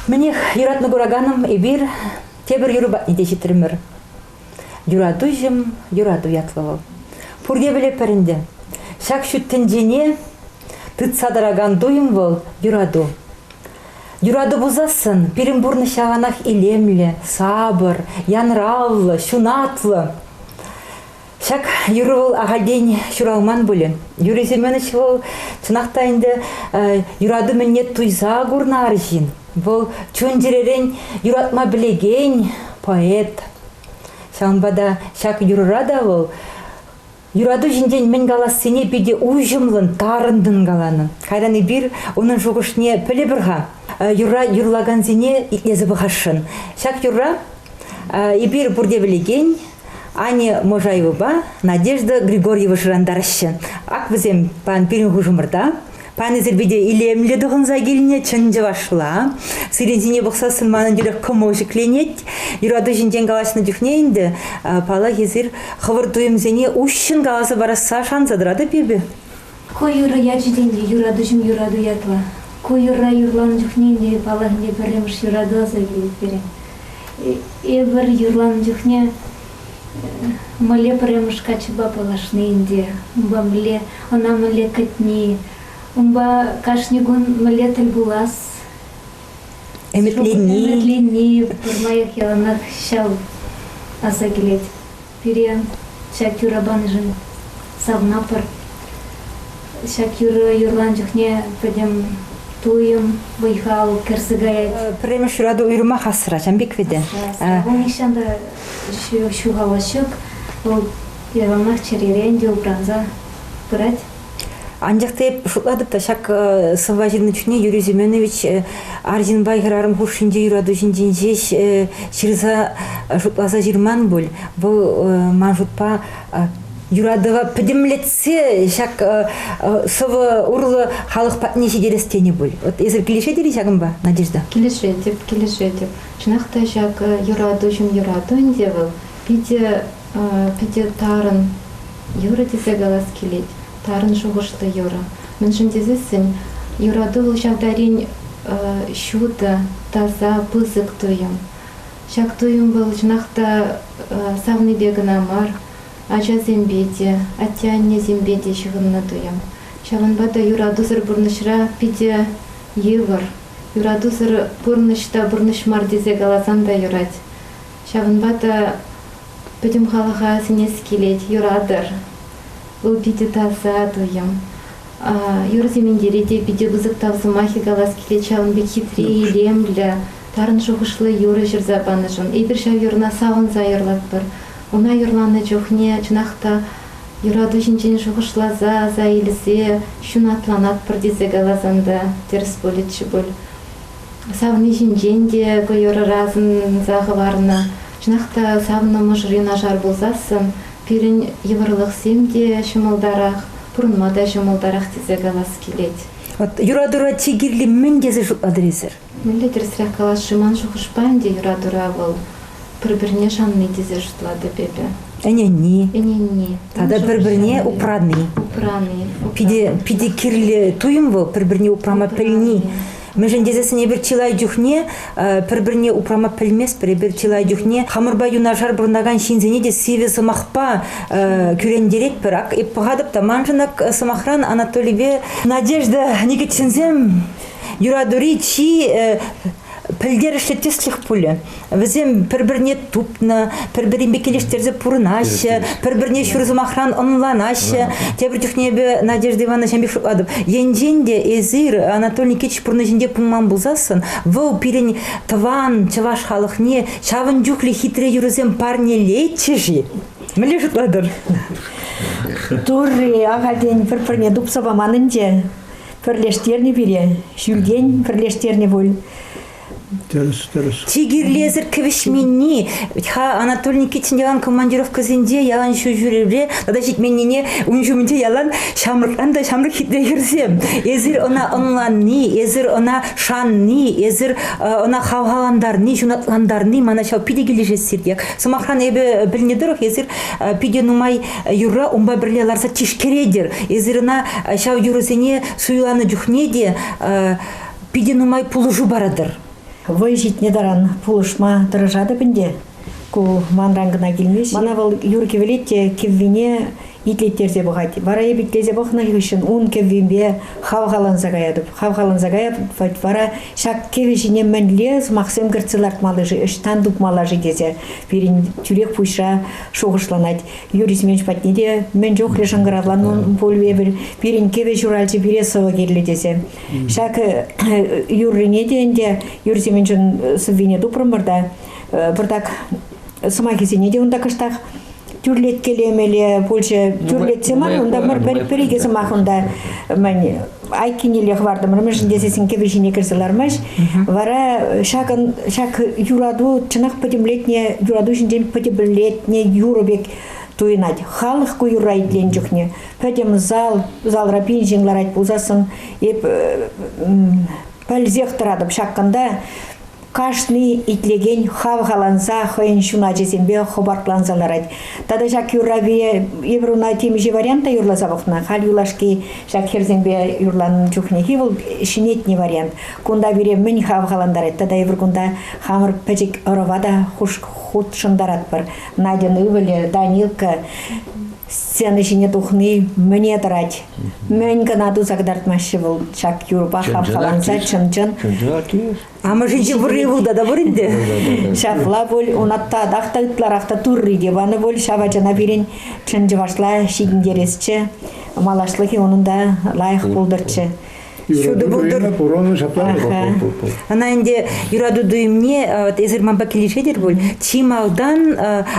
Мӗнех, юратнӑ кураканӑм, эпир тепӗр юрӑ патне те ҫитрӗмӗр. Юратуҫӑм, юрату ятлӑ вӑл. Пурте пӗлетпӗр ӗнтӗ, ҫак ҫут тӗнчене тытса тӑракан туйӑм вӑл юрату. Юрату пулсассӑн пирӗн пурнӑҫ яланах илемлӗ, сапӑр, янраллӑ, ҫунатлӑ. Ҫак юрӑ вӑл ахальтен ҫуралман пулӗ. Юрий Семенович вӑл чӑнах та ӗнтӗ юрату мӗнне туйса курнӑ арҫын. Вӑл чун-чӗререн юратма пӗлекен поэт. Ҫавӑнпа та ҫак юрӑра та вӑл юрату ҫинчен мӗн калассине питӗ уҫӑмлӑн, тарӑнтан каланӑ. Кайран эпир унӑн шухӑшне пӗлӗпӗр-ха. Юрра юрлакансене итлесе пӑхасшӑн. Ҫак юрра Эпир пурте пӗлекен Аня Можаевӑпа Надежда Григорьева шӑрантараҫҫӗ. Ак вӗсем пан пирӗн хушӑмӑрта. Панисӗр питӗ илемлӗ тӑхӑнса килнӗ чӑн чӑвашла. Сирӗн ҫине пӑхсассӑн манӑн тӳрех кӑмӑл ҫӗкленет. Юрату ҫинчен калаҫнӑ чухне ӗнтӗ, паллах, эсир хӑвӑр туйӑмсене уҫҫӑн каласа парасса шанса тӑратӑп эпӗ. Ку юрӑ ячӗсем те юратуҫӑм юрату ятлӑ. Ку юрра юрланӑ чухне ӗнтӗ паллахине пӗрремӗш юрату аса килет пирӗн. Эпир юрланӑ чухне мӗнле пӗрремӗш каччӑпа паллашни ӗнтӗ, унпа мӗнле, ӑна мӗнле кӗтни, унпа кашни кун мӗнле тӗл пулас, ӗмӗтленни, ӗмӗтленни пӗр лайӑх яланах ҫав аса килет. пире ҫак юра панишӗн савнапӑр. Ҫак юрӑ юрлан чухне пӗтӗм туйӑм, вӑй-хал кӗрсе каять. Пӗрремеш юрату уйрӑмах асра, Чамбик вите. Ку нихҫан та ҫухалас ҫук. Вӑл яланах чӗререн те упранса пырать. Анчах та эп шутлатӑп та ҫак сӑвва ҫырнӑ чухне Юрий Семенович арҫынпа хӗрарӑм хушшинче юрату ҫинчен ҫеҫ ҫырса шутласа ҫырман пуль. Вӑл ман шутпа юратӑва пӗтӗмлетсе ҫак сӑвӑ урлӑ халӑх патне ҫитерес тенӗ пуль. Вот эсир килӗшетӗр-и ҫакӑнпа, Надежда? Килӗшетӗп, килӗшетӗп. Чӑнах та ҫак юрату ҫын юрату ӗнтӗ вӑл. Питӗ, питӗ тарӑн Юрӑ тесе калас килет, тарӑн шухӑшлӑ юрӑ. Мӗншӗн тесессӗн юрату вӑл ҫав тарин ҫутӑ, таса, пысӑк туйӑм. Ҫак туйӑм вӑл чӑнах та савнипе кӑна мар, ачасемпе те, атте-аннесемпе те ҫыхӑннӑ туйӑм. Ҫавӑнпа та юратусӑр пурнӑҫра питӗ йывӑр. Юратусӑр пурнӑҫ та пурнӑҫ мар тесе каласан та юрать. Ҫавӑнпа та пӗтӗм халӑха сӗнес килет, юратӑр. Вӑл питӗ таса туйӑм. Юрӑ-симентире те питӗ пысӑк тав сӑмахӗ калас килет ҫавӑн пек хитре, илемлӗ, тарӑн шухӑшлӑ юрӑ ҫырса панӑшӑн. Эпир ҫав юрӑна савӑнса юрлатпӑр. Ӑна юрланӑ чухне, чӑнах та, юрату ҫинчен шухӑшласа, аса илсе ҫунатланатпӑр тесе каласан та тӗрӗс пулӗччӗ пуль. Савни ҫинчен те хӑй ӑрӑра асӑнса хӑварнӑ. Чӑнах та савнӑ мӑшӑрӗ нашар пулсассӑн пирӗн йывӑрлӑхсем те ҫӑмӑлтарах, пурӑнма та ҫӑмӑлтарах тесе калас килет. От юратура чи кирли мӗн тесе шутлатӑр эсир? Мӗнле тӗрӗсрех каласши ман шухӑшпа ӗнтӗ юратура вӑл пӗр-пӗрне шанни тесе шутлатӑп эпӗ. Ӗненни. Ӗненни. Тата пӗр-пӗрне упрани. Упрани. Питӗ питӗ кирлӗ туйӑм вӑл пӗр-пӗрне упрама пӗлни. Мӗншӗн тесессӗн эпир чылай чухне пӗр-пӗрне упрама пӗлместпӗр, эпир чылай чухне хамӑрпа юнашар пурӑнакан ҫынсене те сивӗ сӑмахпа кӳрентеретпӗр. Ак эп пӑхатӑп та маншӑн ак сӑмахран Анатолипе Надежда Никитинсем юратури чи пӗлтерӗшлӗ тӗслӗх пулӗ. Вӗсем пӗр-пӗрне тупнӑ, пӗр-пӗринпе килӗштерсе пурӑнаҫҫӗ, пӗр-пӗрне ҫур сӑмахран ӑнланаҫҫӗ. Тепӗр чухне эпӗ Надежда Ивановна ҫамрӑк шутлатӑп, енчен те эсир Анатолий Никитич пурнӑҫӗнче пулман пулсассӑн, вӑл пирӗн тӑван чӑваш халӑхне ҫавӑн чухлӗ хитре юрӑсем парнелетчӗ-ши? Мӗнле шутлатӑр? Турри ахальтен пӗр-пӗрне тупса паман ӗнтӗ. Пӗрлештернӗ пире, ҫӳлтен пӗрлештернӗ пуль. Тӗрӗс, тӗрӗс. Чи кирлисӗр кӗвӗҫменни. Вӗт-ха Анатолий Никитин ялан командировкӑсенче, ялан ҫулҫӳревре тата ҫитменнине ун ҫумӗнче ялан ҫамрӑкран та ҫамрӑк хитре хӗрсем. Эсир ӑна ӑнланни, эсир ӑна шанни, эсир ӑна хавхалантарни, ҫунатлантарни мана ҫав питӗ килӗшет сиртех. Сӑмахран, эпӗ пӗлнӗ тӑрӑх, эсир питӗ нумай юрра унпа пӗрле ларса тишкеретӗр. Эсир ӑна ҫав юрӑсене суйланӑ чухне те питӗ нумай пулӑшу паратӑр. Вӑй ҫитнӗ таран пулӑшма тӑрӑшатӑп ӗнтӗ. Ку манран кӑна килмест. Мана вӑл юр кӗвӗлет те кӗввине итлеттерсе пӑхать. Вара эп итлесе пӑхнӑ хыҫҫӑн ун кӗввипе хавхаланса каятӑп. Хавхаланса каятӑп вара ҫак кӗвӗ ҫине мӗнле сӑмахсем кӗртсе лартмалла-ши, ӑҫтан тупмалла-ши тесе пирӗн тӳрех пуҫра шухӑшланать. Юрий Семенович патне те мӗн чухлӗ шӑнкӑравланӑ ун пуль эпир. Пирӗн кӗвӗ ҫуралчӗ пире сӑвӑ кирлӗ тесе. Ҫакӑ юррине те ӗнтӗ юр Семенчӑн сӑввине тупрӑмӑр та пӑртак сӑмахӗсене те унта кӑштах тӳрлеткелемеле пулчӗ. Тӳрлетсе мар унта пӗр икӗ сӑмах унта мӗн айккинелле хӑвартӑмӑр мӗншӗн тесессӗн кӗвӗ ҫине кӗрсе лармасть. Вара ҫакӑн ҫак юрату чӑнах пӗтӗмлетнӗ юрату ҫинчен пӗтӗмлетнӗ юрӑ пек туйӑнать. Халӑх ку юрра итленӗ чухне пӗтӗм зал, залра билдинг ларать пулсассӑн, эп пӗлсех тӑратӑп ҫакканта кашни итлекен хавхаланса хӑйӗн ҫуначӗсемпе хӑпартланса ларать. Тата ҫак юрравие Евруна темиҫе варианта юрласа пӑхнӑ. Халь юлашки ҫак хӗрсемпе юрланӑ чухнехи вӑл ҫӗнетнӗ вариант. Кунта пире мӗн хавхалантарать тата эпир кунта хамӑр пӗчӗк ӑрӑва та хушӑнтаратпӑр. Надьӑн ывӑлӗ Данилка сцена ҫине тухни мӗне тӑрать. Мӗн кӑна туса кӑтартмаҫҫӗ вӑл ҫак юрпа хавхаланса чӑн-чӑн. Амӑшӗнче пурри пулта та пур ӗнтӗ. Ҫапла пуль, ун татах та ытларах та турри те панӑ пуль ҫав ачана пирӗн чӑн чӑвашла ҫитӗнтересчӗ. Малашлӑхӗ унӑн та лайӑх пултӑрччӗ. Ҫутӑ пултӑр. Пур унӑн ҫапла. Ӑна ӗнтӗ юрату туйӑмне эсир манпа килӗшетӗр пуль. Чи малтан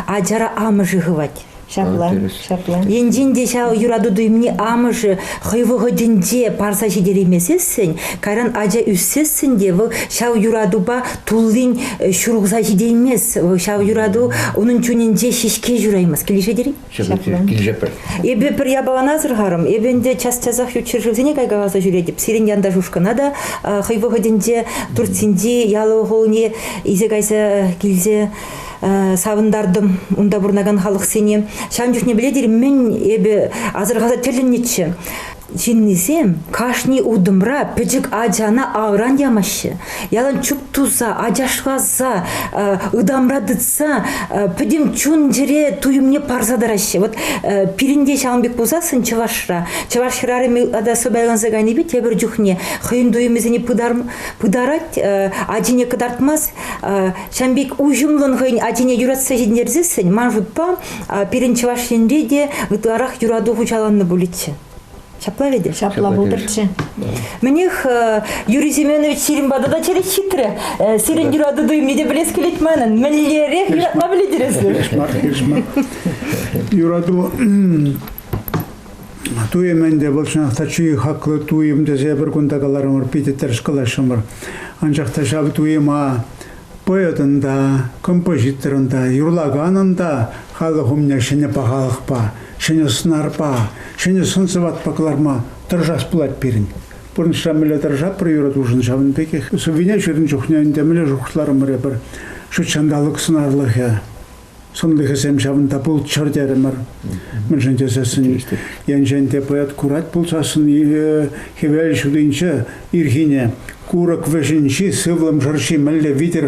ачара амӑшӗ хывать. Ҫапла, ҫапла. Енчен те ҫав юрату туйӑмне амӑшӗ хӑй вӑхӑтӗнче парса ҫитереймесессӗн, кайран ача ӳссессӗн те вӑл ҫав юратупа туллин э, ҫурӑлса ҫитеймест. Ҫав юрату унӑн чунӗнче ҫеҫке ҫураймасть. Килӗшетӗр-и? Килӗшетпӗр. Эпӗ пӗр япалана асӑрхарӑм. Эпӗ ӗнтӗ час-часах ют ҫӗршывсене кайкаласа ҫӳретӗп. Сирӗн янташ ушкӑна та хӑй вӑхӑтӗнче Турцинчи ялӑ хулне илсе кайса килсе савӑнтартӑм унта пурӑнакан халӑхсене. Ҫавӑн чухне пӗле тери мӗн эпӗ асӑрхаса тӗлӗннӗччӗ. Ҫыннисем кашни утӑмра пӗчӗк ачана авран ямаҫҫӗ. Ялан чуп туса, ачашласа, ытамра тытса пӗтӗм чун-чӗре туйӑмне парса тӑраҫҫӗ. Вот пирӗн те ҫавӑн пек пулсассӑн Чӑвашра, чӑваш хӗрарӑмӗ тата сӑпайланса кайнипе тепӗр чухне хӑйӗн туйӑмӗсене пытарать, ачине кӑтартмасть, Ҫам пек уҫӑмлӑн хӑйӗн ачине юратса ҫӗнтерсессӗн, ман шутпа, пирӗн Чӑваш Енре те ытларах юрату хуҫаланнӑ пулӗччӗ. Ҫапла вӗт? Ҫапла пултӑрччӗ. Мӗнех, Юрий Семенович сирӗн пата та черет ҫитрӗ. Сирӗн юрату туйӑмне те пӗлес килет манӑн. Мӗнлерех юратма пӗлетӗр эсир? Хешмар, хешмар. Юрату Туйӑм ӗнтӗ вӑл чӑнах та чи хаклӑ туйӑм тесе пӗр кун та каларӑмӑр, питӗ тӗрӗс калаҫрӑмӑр. Анчах та ҫав туйӑма поэтӑн та, композиторӑн та, юрлаканӑн та халӑх умне ҫӗнӗ пахалӑхпа, ҫӗнӗ сӑнарпа, ҫӗнӗ сӑн-сӑватпа кӑларма тӑрӑшас пулать пирӗн. Пурнӑҫра мӗнле тӑрӑшаппӑр юратушӑн ҫавӑн пекех сӑввине ҫырнӑ чухне ӗнтӗ мӗнле шухӑшларӑмӑр эпир. Ҫут ҫанталӑк сӑнарлӑхӗ, Сӑнлӑхӗсем ҫавӑнта пулччӑр терӗмӗр. Мӗншӗн тесессӗн енчен те поэт курать пулсассӑн хӗвел ҫутинче ирхине курӑк вӗҫӗнчи сывлӑм шӑрши мӗнле витӗр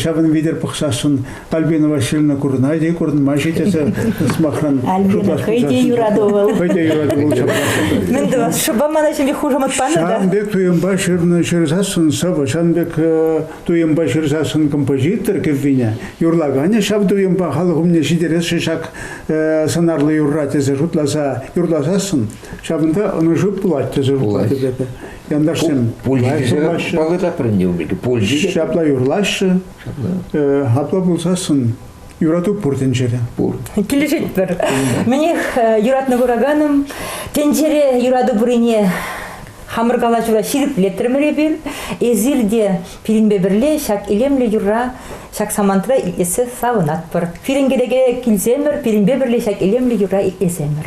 ҫавӑн витӗр пӑхсассӑн Альбина Васильевна курӑнать-и, курӑнмасть-и тесе сӑмахран Альбина хӑй те юрату вӑл. Хӑй те юрату вӑл Мӗн тӑвас, шӑпа мана ҫемье хушамат панӑ та. Ҫавӑн пек туйӑмпа ҫырнӑ ҫырсассӑн сӑвӑ ҫавӑн пек туйӑмпа ҫырсассӑн композитор кӗввине юрлаканӗ ҫав туйӑмпа халӑх умне ҫитересшӗн ҫак э, сӑнарлӑ юрра тесе шутласа юрласассӑн ҫавӑнта ӑнӑҫу пулать тесе шутлатӑп эпӗ. Янташсем вӑйлӑ пулаҫҫӗ. Ҫапла юрлаҫҫӗ. Ҫапла юрлаҫҫӗ. Э, апла пулсассӑн Юрату пур тӗнчере. Пур. Килӗшетпӗр. Мӗнех, юратнӑ кураканӑм, тӗнчере юрату пуррине хамӑр калаҫура ҫирӗплетрӗмӗр эпир. Эсир те пирӗнпе пӗрле ҫак илемлӗ юрра ҫак самантра итлесе савӑнатпӑр. Пирӗн кӗнеке килсемӗр, пирӗнпе пӗрле ҫак илемлӗ юрра итлесемӗр.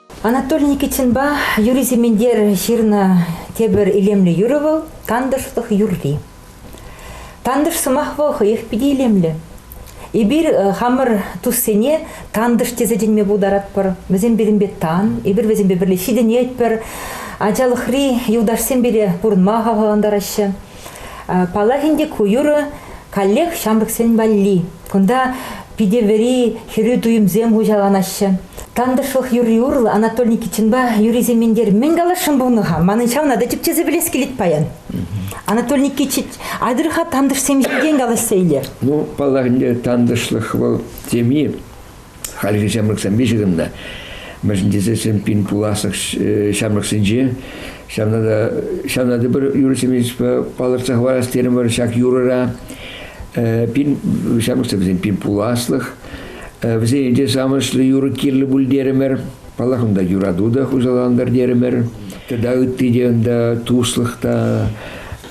Анатолий Никитинпа Юрий Сементер ҫырнӑ тепӗр илемлӗ юрӑ вӑл – тантӑшлӑх юрри. Тантӑш сӑмах вӑл хӑех питӗ илемлӗ. Эпир хамӑр туссене тантӑш тесе чӗнме пултаратпӑр. Вӗсем пирӗнпе тан, эпир вӗсемпе пӗрле ҫитӗнетпӗр. Ачалӑхри юлташсем пире пурӑнма хавхалантараҫҫӗ. Паллах ӗнтӗ, ку юрӑ каллех ҫамрӑксен валли. Кунта питӗ вӗри хӗрӳ туйӑмсем хуҫаланаҫҫӗ. Тантӑшлӑх юрри урлӑ Анатолий Никитинпа юррисем минтер мӗн каласшӑн пулнӑ-ха? Манӑн ҫавна та тӗпчесе пӗлес килет паян. Анатолий Никитич, атӑр-ха тантӑшсем ҫинчен калаҫса илер. Ну, паллах ӗнтӗ, тантӑшлӑх вӑл теми Хальхи ҫамрӑксем виҫӗ кӑна. Мӗншӗн тесен пин пуласлӑх ҫамрӑксенче ҫавна та ҫавна та пӗр юрӑ-семейство палӑртса хӑварас терӗмӗр ҫак юрӑра. Пин ҫамрӑксем вӗсен пин пуласлӑх. Вӗсен те самӑшлӑ юрӑ кирлӗ пуль терӗмӗр. Паллах, унта юрату та хуҫалантӑр терӗмӗр. Тата ытти те унта туслӑх та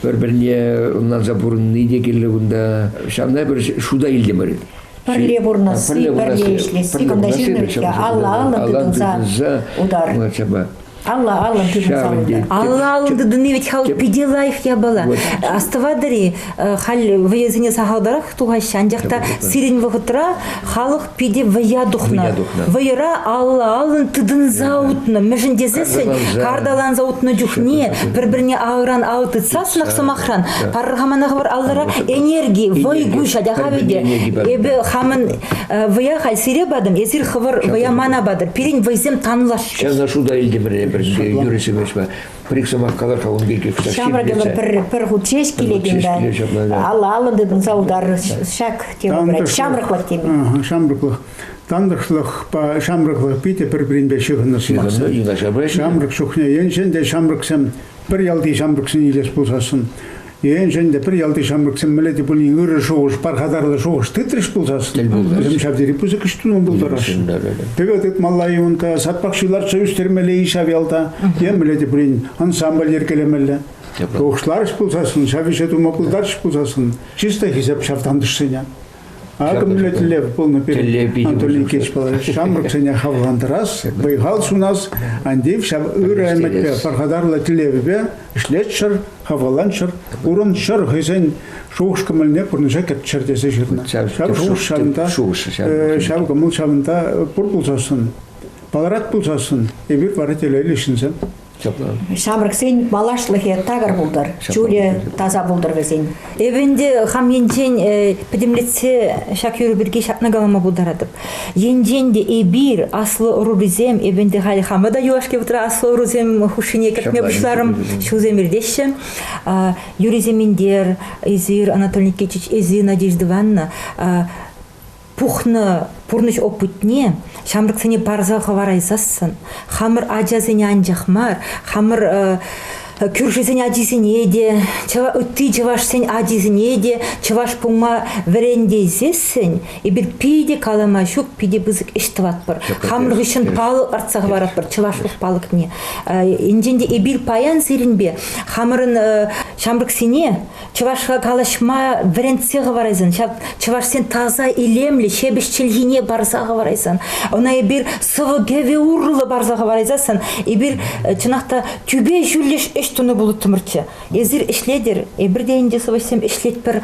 пӗр-пӗрне ӑнланса пурӑнни те кирлӗ кунта. Ҫавна пӗр шута илтӗмӗр. пӗрле пурӑнасси, пӗрле, пӗрле ӗҫлесси, пӗрле кунта ҫыннӑн алла-аллӑн тытӑнса утар. Алла-аллӑн тытӑнса Алла-аллӑн тытӑнни вӗт хал питӗ лайӑх япала. Астӑватӑр-и, халь вӑйӑсене сахалтарах тухаҫҫӗ, анчах та сирӗн вӑхӑтра халӑх питӗ вӑя тухнӑ. Вӑйӑра алла-аллӑн тытӑнса утнӑ. Мӗншӗн тесессӗн карталанса утнӑ чухне пӗр-пӗрне алран ал тытсассӑнах сӑмахран Пархамана хӑвар аллара энерги, вӑй гуҫа та хаве те. Эпӗ хамӑн вӑя халь сире патӑм, эсир хӑвӑр вӑя мана патӑр. Пирӗн вӑйсем танлашчӗр. Ҫавна шута илтӗм пӗр Юрий Семеновичпа. Пӗр сӑмах калар-ха ун пирки. Ҫамрӑк пӗр пӗр хут ҫеҫ килекен та алӑ-алӑ тытӑнса утар ҫак тема ҫамрӑклӑх теми. Ҫамрӑклӑх тантӑшлӑхпа ҫамрӑклӑх питӗ пӗр-пӗринпе ҫыхӑннӑ сӑмахсем. Ҫамрӑк чухне енчен те ҫамрӑксем пӗр ялти ҫамрӑксене илес пулсассӑн Енчен те пӗр ялти ҫамрӑксем мӗнле те пулин ырӑ шухӑш, пархатарлӑ шухӑш тытрӗҫ пулсассӑн, тӗл пултарӗҫ. вӗсем ҫав тери пысӑк ӗҫ тума пултараҫҫӗ. Пӗве тытмалла-и унта, саппак ҫырларча ӳстермелле-и ҫав ялта, е мӗнле те пулин ансамбль йӗркелемелле. Шухӑшларӗҫ пулсассӑн, ҫав ӗҫе тума пултарчӗҫ пулсассӑн, чисто хисеп ҫав тантӑшсене. Акӑ мӗнле тӗллев пулнӑ пирӗн Анатолий Никитич ҫамрӑксене хавхалантарас, вӑй-хал сунас. Антиев ҫав ырӑ ӗмӗтпе, пархатарлӑ тӗллевпе ӗҫлеччӗр, хавхаланччӑр, курӑнччӑр, хӑйсен шухӑш-кӑмӑлне пурнӑҫа кӗртчӗр тесе ҫырнӑ. Ҫав шухӑш ҫавӑнта, ҫав кӑмӑл ҫавӑнта пур пулсассӑн, палӑрать пулсассӑн, эпир вара телейлӗ ҫынсем. Ҫамрӑксен малашлӑхӗ такӑр пултӑр, чулӗ таса пултӑр вӗсен. Эпӗ ӗнтӗ хам енчен э, пӗтӗмлетсе ҫак юрӑ пирки ҫакна калама пултаратӑп. Енчен те эпир аслӑ ӑрурисем, эпӗ ӗнтӗ халь хамӑр та юлашки вӑхӑтра аслӑ ӑрусем хушшине кӗртме пуҫларӑм, ҫулсем иртеҫҫӗ. Юрий Семендер, Эсир, Анатолий Никитич, Эсир, Надежда Ивановна, пухнӑ пурнӑҫ опытне ҫамрӑксене парса хӑварайсассӑн хамӑр ачасене анчах мар хамӑр кӳршисен ачисене те ытти чӑвашсен ачисене те чӑваш пулма вӗрентейсессӗн эпир питӗ калама ҫук питӗ пысӑк ӗҫ тӑватпӑр хамӑр хыҫҫӑн палӑк артса хӑваратпӑр чӑвашлӑх палӑкне енчен те эпир паян сирӗнпе хамӑрӑн ҫамрӑксене чӑвашла калаҫма вӗрентсе хӑварайсан ҫав чӑвашсен таса илемлӗ ҫепӗҫ чӗлхине парса хӑварайсан ӑна эпир сӑвӑ кӗвӗ урлӑ парса хӑварайсассӑн эпир чӑнах та тӳпе ҫӳллӗш ӗҫ тунӑ пулӑттӑмӑрччӗ эсир ӗҫлетӗр эпир те ӗнтӗ сӑвӑҫсем ӗҫлетпӗр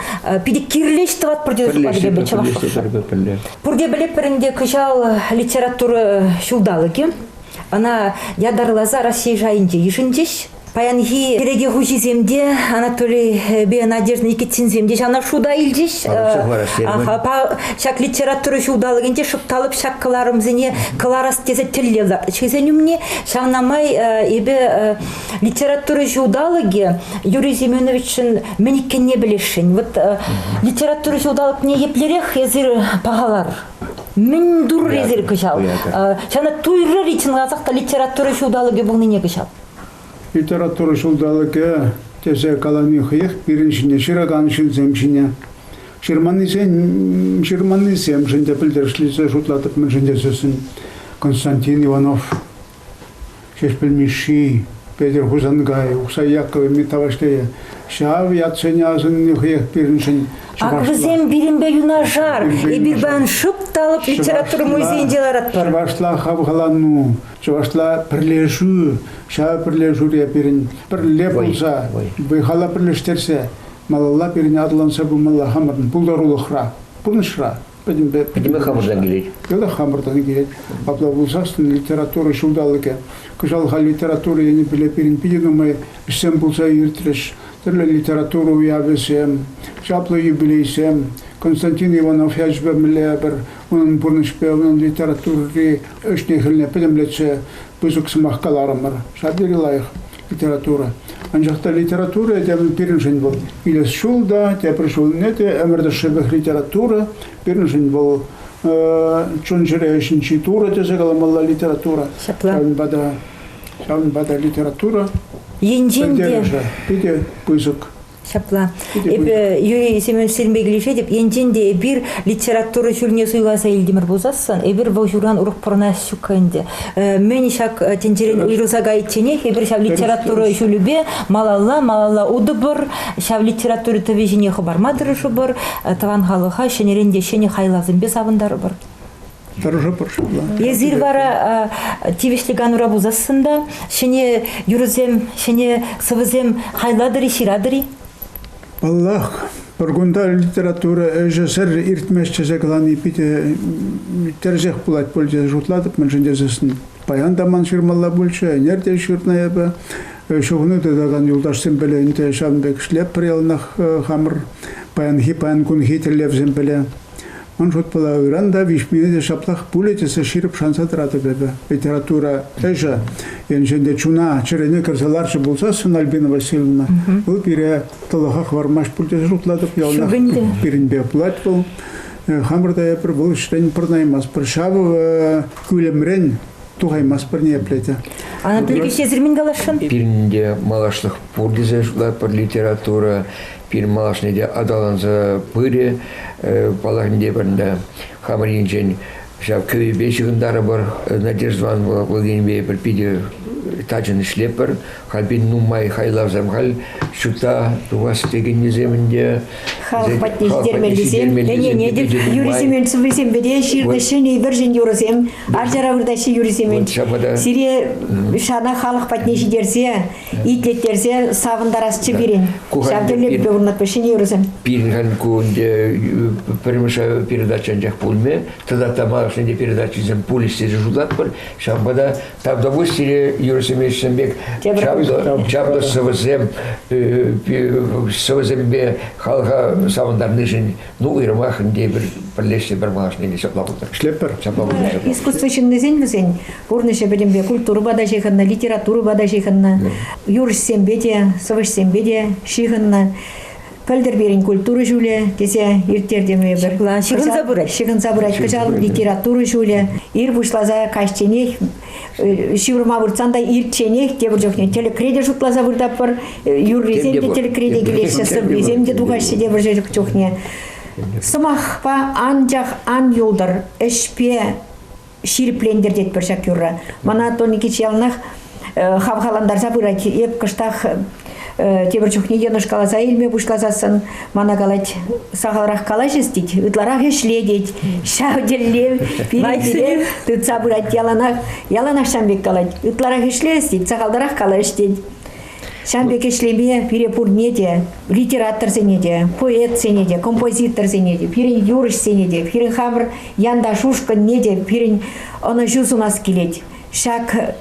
питӗ кирлӗ ӗҫ тӑватпӑр тетӗр тепӗр чӑвашлӑхшӑн пурте пӗлетпӗр ӗнтӗ кӑҫал литература ҫулталӑкӗ ӑна ятарласа Раҫҫей шайӗнче йышӑнчӗҫ Паянхи переке хуҫисем те, Анатолийпе Надежда Никитинсем те ҫавна шута илчӗҫ. Ҫак литература ҫулталӑкӗнче шӑпталӑк ҫак кӑларӑмсене кӑларас тесе тӗллев лартчӗҫ умне. Ҫавна май эпӗ литература ҫулталӑкӗ Юрий Семеновичӑн мӗн иккенне пӗлесшӗн. Вот литература ҫулталӑкне еплерех эсир пахалар? Мӗн турӑр эсир кӑҫал? Ҫавна туйрӑр-и чӑнласах та литература ҫулталӑкӗ пулнине кӑҫал? Литература ҫулталӑкӗ тесе калани хӑех пирӗн ҫине ҫыракан ҫынсем ҫине ҫырманнисемшӗн те пӗлтерӗшлисе шутлатӑп, мӗншӗн тесессӗн Константин Иванов, Ҫеҫпӗл Мишши, Петӗр Хусанкай, Ухсай Яковлевми тавӑҫлийӗ ҫав ятсене асӑнни хӑех пирӗншӗн чӑвашла. Ак вӗсем пирӗнпе юнашар. Эпир паян шӑп та лӑп литература музейӗнче ларатпӑр. Чӑвашла хавхалану, Чӑвашла пӗрлешӳ, ҫав пӗрлешӳре пирӗн пӗрле пулса, вӑй-хала пӗрлештерсе малалла пирӗн аталанса пымалла хамӑрӑн пултарулӑхра, пурнӑҫра пӗтӗмпе пӗтӗмпе хамӑртан килет. Пӗтӗмпе хамӑртан килет. Апла пулсассӑн литература ҫулталӑкӗ, кӑҫал халь литература енӗпе пирӗн питӗ нумай ӗҫсем пулса иртрӗҫ. Тӗрлӗ литература уявӗсем, чаплӑ юбилейсем. Константин Иванов ячӗпе мӗнле пӗр унӑн пурнӑҫпе, унӑн литератури ӗҫне-хӗлне пӗтӗмлетсе пысӑк сӑмах каларӑмӑр. Ҫав тери лайӑх литература. Анчах та литература те пирӗншӗн вӑл илес ҫул та, тепӗр ҫулне те ӗмӗр тӑршшӗпех литература пирӗншӗн вӑл чун-чӗре ҫинчи турӑ тесе каламалла литература. Ҫапла. Ҫавӑнпа та ҫавӑнпа та литература енчен те питӗ пысӑк Ҫапла. Эпӗ Юрий Семеновичсемпе килӗшетӗп. Енчен те эпир литература ҫулне суйласа илтӗмӗр пулсассӑн, эпир вӑл ҫуран урӑх пурӑнас ҫук ӗнтӗ. Э, мӗн ҫак э, тӗнчерен уйрӑлса кайичченех эпир ҫав литература ҫулӗпе малалла, малалла утӑпӑр, ҫав литература тӑвӗ ҫине хӑпарма тӑрӑшӑпӑр, э, тӑван халӑха ҫӗнӗрен те ҫӗнӗ хайлавсемпе савӑнтарӑпӑр. Тӑрӑшӑпӑр. Эсир вара тивӗҫлӗ канура пулсассӑн та ҫӗнӗ юрӑсем, ҫӗнӗ сӑвӑсем хайлатӑр-и, ҫыратӑр-и? Паллах, пӗр кунта литература ӗҫӗсӗр иртмест тесе калани питӗ тӗрӗсех пулать пуль тесе шутлатӑп, мӗншӗн тесессӗн паян та ман ҫырмалла пулчӗ, ӗнер те ҫырнӑ эпӗ, ҫухӑну тытакан юлташсем пӗле ӗнтӗ ҫавӑн пек шлеппӗр яланах хамӑр паянхи паян кунхи тӗллевсем пӗле. Ун шутпала ыран та виҫмине те ҫаплах пулӗ тесе ҫирӗп шанса тӑратӑп эпӗ. Литература ӗҫӗ енчен те чуна чӗрене кӗрсе ларчӗ пулсассӑн, Альбина Васильевна, вӑл пире тӑлӑха хӑвармасть пуль тесе шутлатӑп. Яланах пирӗнпе пулать вӑл. Хамӑр та эпир вӑл ӗҫрен пӑрӑнаймастпӑр. Ҫавӑ кӳлӗмрен Тухаймастпӑр ниепле те. Ана пирки сесӗрмен каласшӑн? Пирӗн те малашлӑх пур тесе шутлатпӑр литература. Пирӗн малашне те аталанса пырӗ э, паллахни те пӗрнде. Хамӑр енчен ҫав кӳпе ҫыхӑнтарӑпӑр. Надежда Ивановна Владимирпе пӗр питӗ тачӑн ӗҫлеппӗр. Халь пин нумай хайлавсем халь ҫутта тухас текеннисемӗн те халӑх патне ҫитермеллисем, ӗнене те Юрий Семен сыввисемпе те ҫырнӑ ҫӗнӗ вӗрҫӗн юрӑсем, арчара выртаҫҫӗ Юрий Семен. Сире шана халӑх патне ҫитерсе, итлеттерсе савӑнтарасчӗ пирӗн. Ҫав тӗллевпе урнатпӑр ҫӗнӗ юрӑсем. Пирӗн кун пӗрремӗш передача анчах пулмӗ, тата та малашне те передачисем пулӗҫ тесе шутлатпӑр. Ҫавӑнпа та Ҫав довольствие юрӑҫсене ӗҫсем пек чаплӑ сӑвӑсем сӑвӑсемпе халӑха савӑнтарнишӗн ну уйрӑмах ӗнтӗ пӗр пӗрлешсе пӗр малашне те ҫапла пултар. Ӗҫлеппӗр. Ҫапла пултар. Искусство ҫыннисен вӗсен пурнӑҫӗ пӗтӗмпе культурӑпа та ҫыхӑннӑ, литературӑпа та ҫыхӑннӑ, юрӑҫсемпе те, сӑвӑҫсемпе те ҫыхӑннӑ. пӗлтӗр пирӗн культура ҫулӗ тесе ирттертӗм эпир. Ҫырӑнса пырать. Ҫырӑнса пырать. Кӑҫал литература ҫулӗ. Ир пуҫласа каҫченех ҫывӑрма выртсан та ирчченех тепӗр чухне тӗлӗкре те шутласа выртатпӑр. Юррисем те тӗлӗкре те килеҫҫӗ, сӑввисем те тухаҫҫӗ те вӑрҫӑ чухне. Сӑмахпа анчах ан юлтӑр, ӗҫпе ҫирӗплентертетпӗр ҫак юрра. Мана Тоникич яланах хавхалантарса пырать. Эп кӑштах тепӗр чухне йӑнӑш каласа илме пуҫласассӑн мана калать, сахалрах калаҫӑс тет, ытларах ӗҫле тет. Ҫав тӗллев пире тытса пырать. Яланах яланах ҫам пек калать, ытларах ӗҫлес тет, сахалтарах калаҫ тет. Ҫавӑн пек ӗҫлеме пире пурне те, литераторсене те, поэтсене те, композиторсене те, пирӗн юрӑҫсене те, пирӗн хамӑр янташ-ушкӑнне те пирӗн ӑнӑҫу сунас килет. Ҫак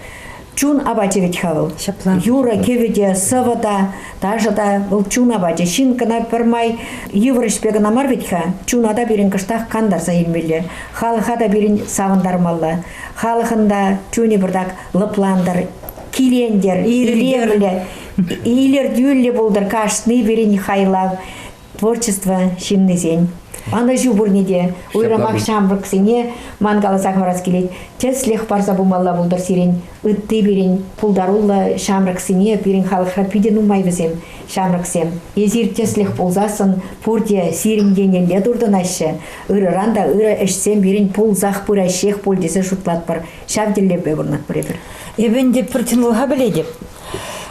чун апачӗ вӗт-ха вӑл. Ҫапла. Юрӑ-кӗвӗ те, сӑвӑ та, ташӑ та вӑл чун апачӗ. Ҫын кӑна пӗрмай йывӑр ӗҫпе кӑна мар вӗт-ха, чуна та пирӗн кӑштах кантарса илмелле, халӑха та пирӗн савӑнтармалла, халӑхӑн та чунӗ пӗртак лӑплантӑр, килентер, илевлӗ, илӗртӳллӗ пултӑр кашни пирӗн хайлав творчество ҫыннисен. Ӑнӑҫу пурне те, уйрӑмах ҫамрӑксене ман каласа хӑварас килет, тӗслӗх парса пымалла пултӑр сирӗн, ытти пирӗн пултаруллӑ ҫамрӑксене, пирӗн халӑхра питӗ нумай вӗсем, ҫамрӑксем. Эсир тӗслӗх пулсассӑн пурте сирӗн еннелле туртӑнаҫҫӗ, ырӑран та ырӑ ӗҫсем пирӗн пулсах пыраҫҫех пуль тесе шутлатпӑр. Ҫав тӗллевпе пурӑнатпӑр эпир. Эпӗ ӗнтӗ пӗр чӑнлӑха пӗлетӗп.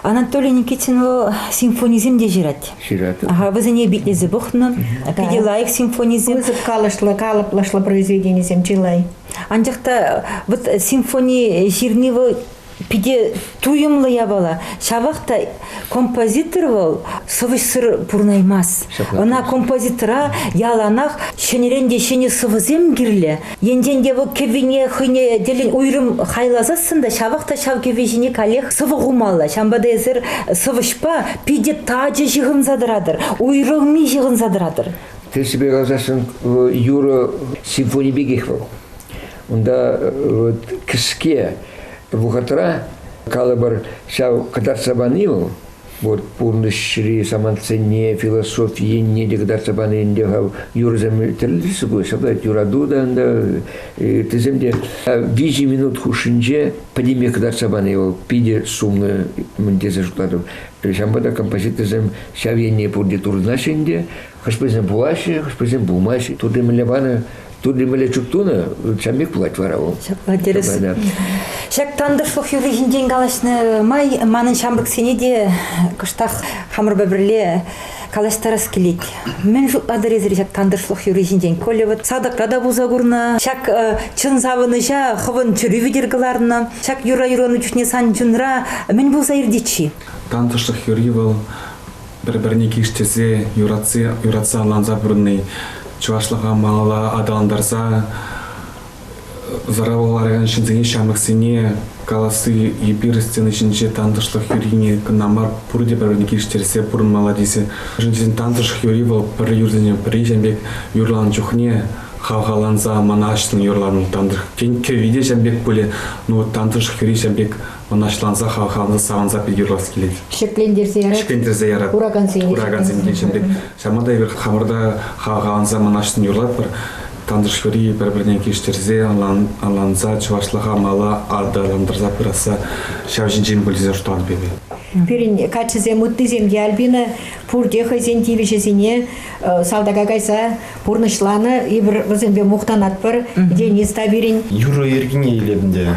Анатолий Никитин вӑл симфонисем те ҫырать. Ҫырать. Ага, вӗсене битлесе пӑхнӑ. Питӗ лайӑх симфонисем. Пысӑк калӑшлӑ, калӑплӑшлӑ произведенисем чылай. Анчах та вот симфони ҫырни вӑл питӗ туйӑмлӑ япала. Ҫавах та Композитор вӑл сӑвӑҫсӑр пурӑнаймасть. Ӑна композитора яланах ҫӗнӗрен те ҫӗнӗ сӑвӑсем кирлӗ. Енчен те вӑл кӗввине хӑйне тӗллӗн уйрӑм хайласассӑн та ҫавах та ҫав кӗвви ҫине каллех сӑвӑ хумалла. Ҫавӑнпа та эсир сӑвӑҫпа питӗ тачӑ ҫыхӑнса тӑратӑр, уйрӑлми ҫыхӑнса тӑратӑр. Тӗрӗсипе каласассӑн, юрӑ симфони пекех вӑл. Унта вот кӗске вӑхӑтра калӑпӑр ҫав кӑтартса пани вӑл вот пурнӑҫри самантсене, философи енне те кӑтартса пани ӗнтӗ юрӑсем тӗрлӗ сыпӑ, шӑпат юрату та ӗнтӗ, тесем те виҫӗ минут хушшинче пӗтӗмпех кӑтартса пани вӑл питӗ сумлӑ мӗн тесе шутлатӑп. Ҫавӑнпа та композиторсем ҫав енне пурте туртӑнаҫҫӗ ӗнтӗ, Хӑшпӗсем пулаҫҫӗ, хӑшпӗсем пулмаҫҫӗ. Турри мӗнле панӑ, Турри мӗнле чуп тунӑ, чамик пулать вара вӑл. Ҫапла тӗрӗс. Ҫак тантӑшлӑх юрри ҫинчен калаҫнӑ май манӑн ҫамрӑксене те кӑштах хамӑрпа пӗрле калаҫтарас килет. Мӗн шутлатӑр эсир ҫак тантӑшлӑх юрри ҫинчен? Коля вот садокра та пулса курнӑ. Ҫак чӑн савӑнӑҫа хӑвӑн чӗрӳ витӗр кӑларнӑ. Ҫак юрра юрланӑ чухне сан чунра мӗн пулса иртет-ши? Тантӑшлӑх юрри вӑл пӗр-пӗрне килӗштерсе, юратса ӑнланса пурӑнни чӑвашлӑха малалла аталантарса зараба ларакан ҫынсене, ҫамрӑксене каласси эпир сцена ҫинче тантӑшлӑх юррине кӑна мар, пурте пӗр-пӗрне килӗштерсе пурӑнмалла тесе. Мӗншӗн тантӑшлӑх юрри вӑл пӗр юрсене пӗри ҫын пек юрланӑ чухне хавхаланса мана аҫтӑн юрланӑ тантӑш. Тен, кӗвви те ҫын пек пулӗ, ну тантӑшлӑх юрри ҫын пек мӑнаҫланса, хавхаланса, савӑнса питӗ юрлас килет. Ҫӗклентерсе ярать. Ҫӗклентерсе ярать. Куракансене. Куракансенне ҫӗклентерсе. Ҫавна та эпир хамӑрта хавхаланса, мӑнаҫлӑн юрлатпӑр. Тантӑшри пӗр-пӗрне килӗштерсе, ӑнланса, чӑвашлӑха мала аталантарса пырасса ҫав ҫинчен пӗлсе шутлатӑп эпир. Пирӗн каччӑсем, ыттисем те Альбина пурте хӑйсен тивӗҫӗсене э, салтака кайса пурнӑҫланӑ. Эпир вӗсемпе мухтанатпӑр. Денис та пирӗн. Юрӑ йӗркине илеп ӗнтӗ.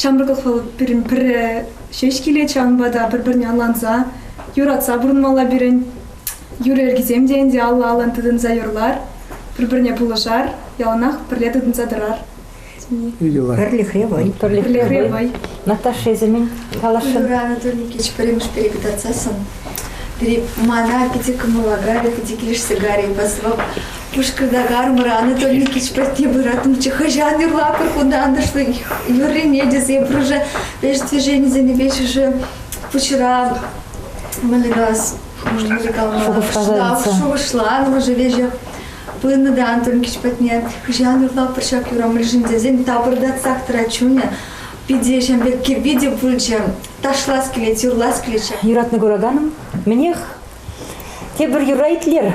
Ҫамрӑклӑх вӑл пирӗн пӗрре ҫеҫ килет ҫавӑнпа та пӗр-пӗрне ӑнланса, юратса пурӑнмалла пирӗн. Юр йӗркисем те ӗнтӗ алла-аллан тытӑнса юрлар, пӗр-пӗрне пулӑшар, яланах пӗрле тытӑнса тӑрар. Пӗрлӗхре вӑй. Пӗрлӗхре вӑй. Наташа, эсӗ мӗн каласшӑн? Ырра Анатолий Никитич пӗрремӗш перепытарсассӑн пире мана питӗ кӑмӑла карӗ, питӗ килӗшсе карӗ, позвав Пушкӑртакармӑр Анатолий Никитич патне пыратӑмччӗ. Хӑҫан юрлатӑр кунта антӑшлӑ юррине тесе пурнӑҫа пеш движенисене пешӗшӗ пуҫра мӑльгас шухӑшланмӑшӗ веҫе пынӑ та Антон Кич патне хӑҫан юрлатпӑр ҫак юрамлишӗн тесен тапӑртатсах тӑрать чунӗ питӗ ҫын пек кирпи те пулчӗ ташлас килет юрлас килетчӗ юратнӑ кураканӑм мӗнех тепӗр юра итлер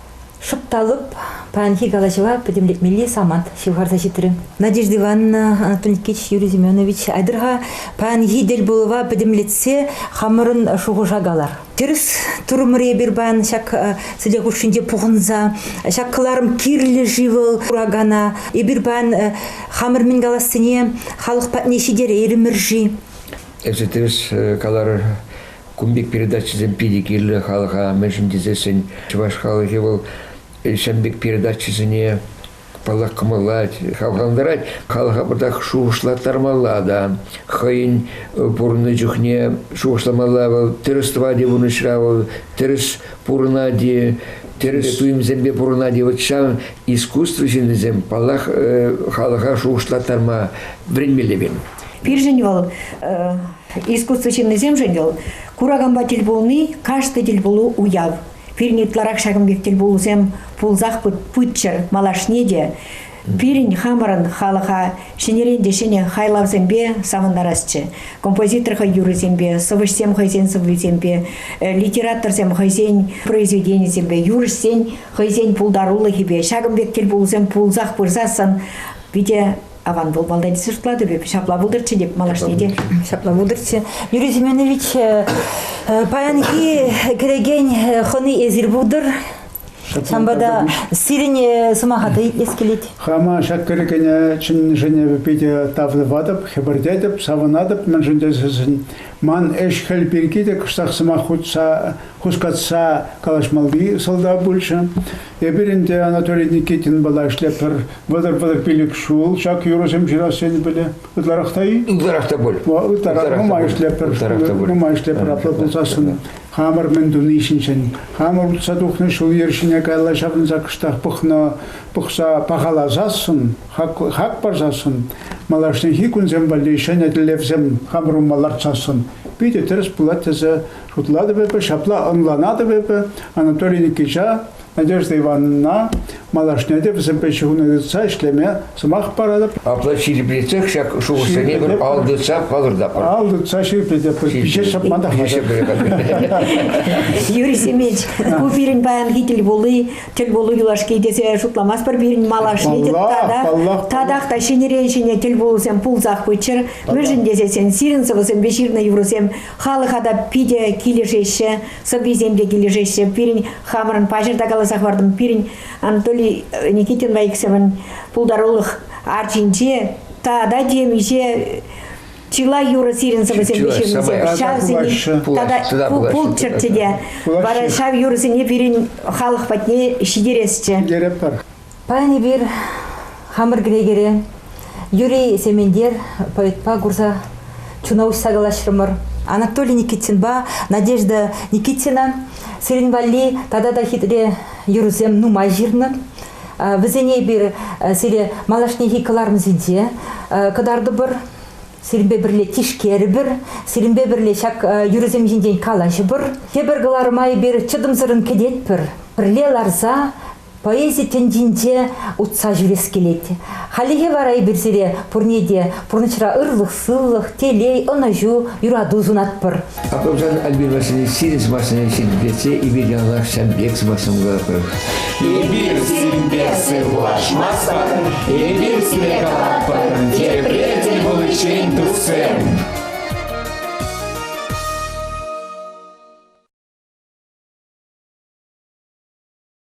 Шӑп та лӑп паянхи калаҫӑва пӗтӗмлетмелли самант ҫывхарса ҫитрӗ. Надежда Ивановна Анатольевич Юрий Семенович, айтӑр-ха паянхи тӗлпулӑва пӗтӗмлетсе хамӑрӑн шухӑша калар. Тӗрӗс турӑмӑр эпир паян ҫак сӗтел хушшинче пухӑнса. Ҫак кӑларӑм кирлӗ-ши вӑл куракана? Эпир паян хамӑр мӗн калассине халӑх патне ҫитерейрӗмӗр-ши? Эсӗ тӗрӗс каларӑр. Кун пек передачӑсем питӗ кирлӗ халӑха, мӗншӗн тесессӗн чӑваш халӑхӗ вӑл ҫын пек передачӑсене паллах кӑмӑллать, хавхалантарать. Халӑха пӑртак шухӑшлаттармалла та хӑйӗн пурӑннӑ чухне шухӑшламалла. Вӑл тӗрӗс тӑвать-и пурнӑҫра, вӑл тӗрӗс пурӑнать-и, тӗрӗс туйӑмсемпе пурӑнать-и. Вот ҫавӑн искусство ҫыннисем, паллах, халӑха шухӑшлаттарма вӗренмелле пирӗн. Пирӗн вӑл Искусство ҫыннисемшӗн вӑл кураканпа тӗл пулни каждый тӗл пулу уяв. Пирӗн ытларах ҫакӑн пек тӗл пулусем пулсах пыччӑр малашне те. Пирӗн хамӑрӑн халӑха ҫӗнӗрен те ҫӗнӗ хайлавсемпе савӑнтарасчӗ. Композитор хӑй юррисемпе, сӑвӑҫсем хӑйсен сӑввисемпе, э, литераторсем хӑйсен произведенийӗсемпе, юрӑҫсен хӑйсен пултарулӑхӗпе ҫакӑн пек тӗл пулусем пулсах пырсассӑн питӗ Аван вӑл валдай тесе шутлатӑп эп. Ҫапла пултӑрччӗ теп малашне те. Ҫапла пултӑрччӗ. Юрий Семенович, э, паянхи кӗрекен э, хӑни эсир пултӑр. Самбада сирӗн э, сӑмаха та итлес килет. Хама ҫак кӗрекене чӑннишӗн питӗ тавлӑватӑп, хӗпӗртетӗп, савӑнатӑп, мӗншӗн тесен Ман ӗҫ-хӗл пирки те кӑштах сӑмах хутса, хускатса калаҫмалли сӑлтав пулчӗ. Эпир ӗнтӗ Анатолий Никитинпала ӗҫлетпӗр. Вӑтӑр-пӑтӑр пилӗк ҫул ҫак юрӑсем ҫырас енӗ пӗле. Ытларах та-и? Ытларах та пуль. Ытларах нумай ӗҫлетпӗр. Нумай ӗҫлетпӗр апла пулсассӑн. Хамӑр мӗн туни ҫинчен, хамӑр утса тухнӑ ҫул-йӗр ҫине каялла ҫаврӑнса кӑштах пӑхнӑ, пӑхса пахаласассӑн хак парсассӑн, малашнехи кунсем валли ҫӗнӗ тӗллевсем хамӑрӑма лартсассӑн питӗ тӗрӗс пулать тесе шутлатӑп эпӗ, ҫапла ӑнланатӑп эпӗ Анатолий Никитича, Надежда Ивановна, малашне те вӗсемпе ҫыхӑну тытса ӗҫлеме сӑмах паратӑп. Апла ҫирӗплетсех ҫак шухӑшсене пӗр ал тытса палӑртатпӑр. Ал тытса ҫирӗплетӗпӗр. Пиҫе ҫапма та хатӗр. Юрий Семенович, ку пирӗн паянхи тӗл пулу тӗл пулу юлашки тесе шутламастпӑр пирӗн малашне тата татах та ҫӗнӗрен ҫӗнӗ тӗл пулусем пулсах пыччӑр мӗншӗн тесен сирӗн сӑвӑсемпе ҫырнӑ юрӑсем халӑха та питӗ килӗшеҫҫӗ сӑввисем те килӗшеҫҫӗ пирӗн хамӑрӑн паҫӑр та каласа хӑвартӑм пирӗн Анатолий Никитинпа иксӗмӗн пултарулӑх арчинче тата темиҫе чылай юрӑ сирӗн сӑвӑсемпе ҫырнӑсем. Ҫавсене тата пулччӑр те. Вара ҫав юрӑсене пирӗн халӑх патне ҫитересчӗ. Ҫитеретпӗр. Паян эпир хамӑр кӗнекере Юрий Сементер поэтпа курса чуна уҫса калаҫрӑмӑр. Анатолий Никитинпа Надежда Никитина сирӗн валли тата та хитре юрӑсем нумай ҫырнӑ. Вӗсене эпир сире малашнехи кӑларӑмсенче кӑтартӑпӑр сирӗнпе пӗрле тишкерӗпӗр, сирӗнпе пӗрле ҫак юрӑсем ҫинчен калаҫӑпӑр. Тепӗр кӑларӑма эпир чӑтӑмсӑррӑн кӗтетпӗр. Пӗрле ларса поэзи тӗнчинче утса ҫӳрес килет. Хальлӗхе вара эпир сире пурне те пурнӑҫра ырлӑх, сывлӑх, телей, ӑнӑҫу, юрату сунатпӑр. Апамсан Альбин Васильевич сирӗн сӑмахсене ҫирӗплетсе эпир яланах ҫав пек сӑмахсӑмӑр. Эпир сирӗнпе сывлашмастпӑр, эпир сире калатпӑр, тепре тӗл пуличчен, дусем!